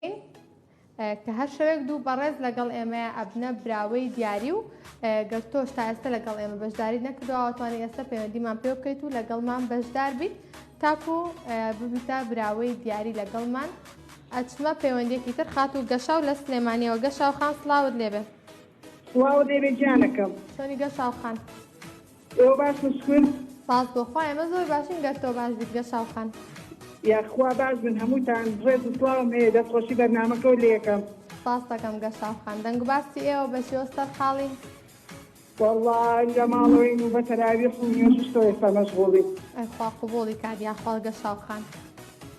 دەکەین کە هەر شەوێک دوو بەڕێز لەگەڵ ئێمەیە ئەبنە براوەی دیاری و گەر تۆش تا ئێستا لەگەڵ ئێمە بەشداری نەکردوەوەتوانانی ئێستا پەیوەندیمان پێ بکەیت و لەگەڵمان بەشدار بیت تاکو ببیتە براوەی دیاری لەگەڵمان ئەچمە پەیوەندێکی تر خات و گەشا و لە سلێمانیەوە گەشا و خان سلااوت لێبێ سلااو لێبێ گیانەکەم سۆنی گەشا و خان. ئێوە باشن شکر. سپاس بۆ خوا ئێمە زۆر باشین گەر تۆ باش بیت گەشاو خان. یاخوا باش بن هەمووتان ڕێز و سڵاوم هەیە دەست خۆشی بەرنامەکەو لێکەم. سپاس دەکەم گەشاو خان دەنگ و باسی ئێوە بە شێوە سەر حاڵین. وەڵا لە ماڵەوەین و بە تەراویح و نوێژش تۆ ئێستا مەشغوڵین. ئەی خوا قبوڵی کات یاخوا گەشاو خان.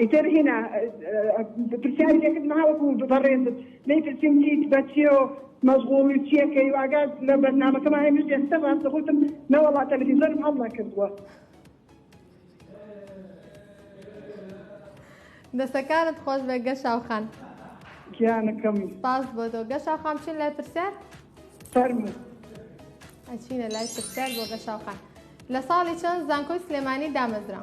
ئیتر هینا پرسیاری لێ کردم ها وەکو بەڕێزت لێی پرسیم چیت بە چیە و مەشغوڵی و چیەکەی و ئاگات لە بەرنامەکەمان هەیە منیش ئێستا ڕاستە گوتم نەوەڵا تەلەفیزۆنم هەڵ نەکردووە دەستەکانت خۆش بێ گەشاو خان گیانەکەم سپاس بۆ تۆ گەشاو خان چین لای پرسیار فەرموو ئەچینە لای پرسیار بۆ گەشاو خان لە ساڵی چەند زانکۆی سلێمانی دامەزرا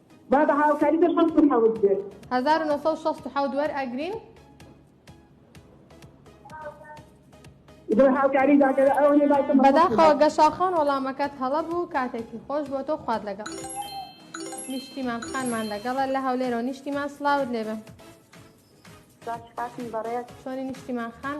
با بە هاوکاری بە شەست و حەوت بێت. هەزار و نۆ سەد و شەست و حەوت وەرئەگرین. بە هاوکاری داکەرە ئەو نێ بای تەمە. بەداخەوە گەشا خان وەڵامەکەت هەڵە بوو کاتێکی خۆش بۆ تۆ خوات لەگەڵ. نیشتیمان خانمان لەگەڵە لە هەولێرەوە نیشتیمان سڵاوت لێبێ. سپاس کاکم بەڕێز. چۆنی نیشتیمان خان؟